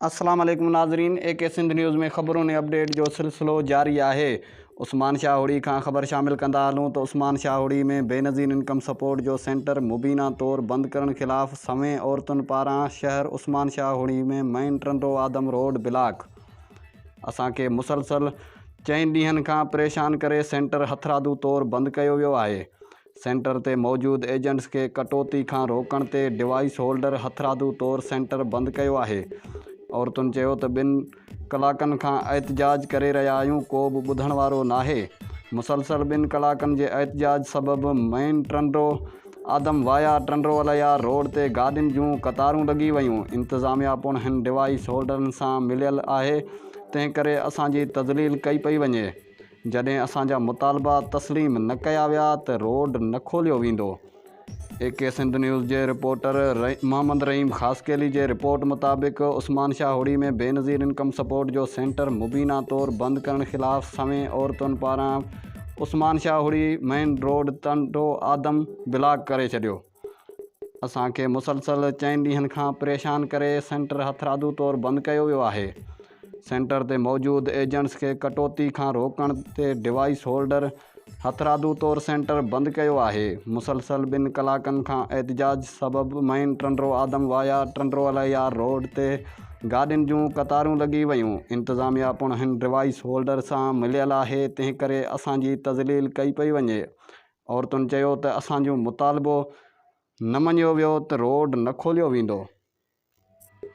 السلام عليڪم ناظرين اي ڪي سنڌ نيوز ۾ خبرون ۽ اپڊيٽ جو سلسلو جاري آهي عثمان شاهه هوڙي کان خبر شامل ڪندا هلون ته عثمان شاهه هوڙي ۾ بينظير انڪم سپورٽ جو سينٽر مبينا طور بند ڪرڻ خلاف سوين عورتن پاران شهر Usman Shah Hori ۾ main Tando Adam road block اسان کي مسلسل چئن ڏينهن کان پريشان ڪري سينٽر هٿرادو طور بند ڪيو ويو آهي، سينٽر تي موجود ايجنٽس کي ڪٽوتي کان روڪڻ تي ڊوائيس هولڊر هٿرادو طور سينٽر بند ڪيو آهي، عورتن چيو ته ٻن ڪلاڪن کان احتجاج ڪري رهيا آهيون ڪو به ٻڌڻ وارو ناهي، مسلسل ٻن ڪلاڪن جي احتجاج سبب مين ٽرنڊو. آدم وايا ٽنڊوالهيا روڊ تي گاڏين جون قطارون لڳي ويون، انتظاميا پڻ هن ڊوائيس هولڊرن سان مليل آهي، تنهن ڪري اسان جي تذليل ڪئي پئي وڃي، جڏهن اسان جا مطالبا تسليم نه ڪيا ويا ته روڊ نه کوليو ويندو. اي ڪي سنڌ نيوز جي رپورٽر محمد رحيم خاصخيلي جي رپورٽ مطابق عثمان شاهه هڙي ۾ بينظير انڪم سپورٽ جو سينٽر مبينا طور بند ڪرڻ خلاف سوين عورتن پاران Usman Shah Hori main road Tando Adam block ڪري ڇڏيو. اسان کي مسلسل چئن ڏينهن کان پريشان ڪري سينٽر هٿرادو طور بند ڪيو ويو آهي. سينٽر تي موجود ايجنٽس کي ڪٽوتي کان روڪڻ تي ڊوائيس هولڊر هٿرادو طور سينٽر بند ڪيو آهي. مسلسل ٻن ڪلاڪن کان احتجاج سبب main Tando Adam via Tando Allahyar road تي گاڏين جون قطارون لڳي ويون، انتظاميا پڻ هن ڊوائيس هولڊر سان مليل آهي، تنهنڪري اسان جي تذليل ڪئي پئي وڃي. عورتن چيو ته اسان جو مطالبو نه مڃيو ويو ته روڊ نه کوليو ويندو.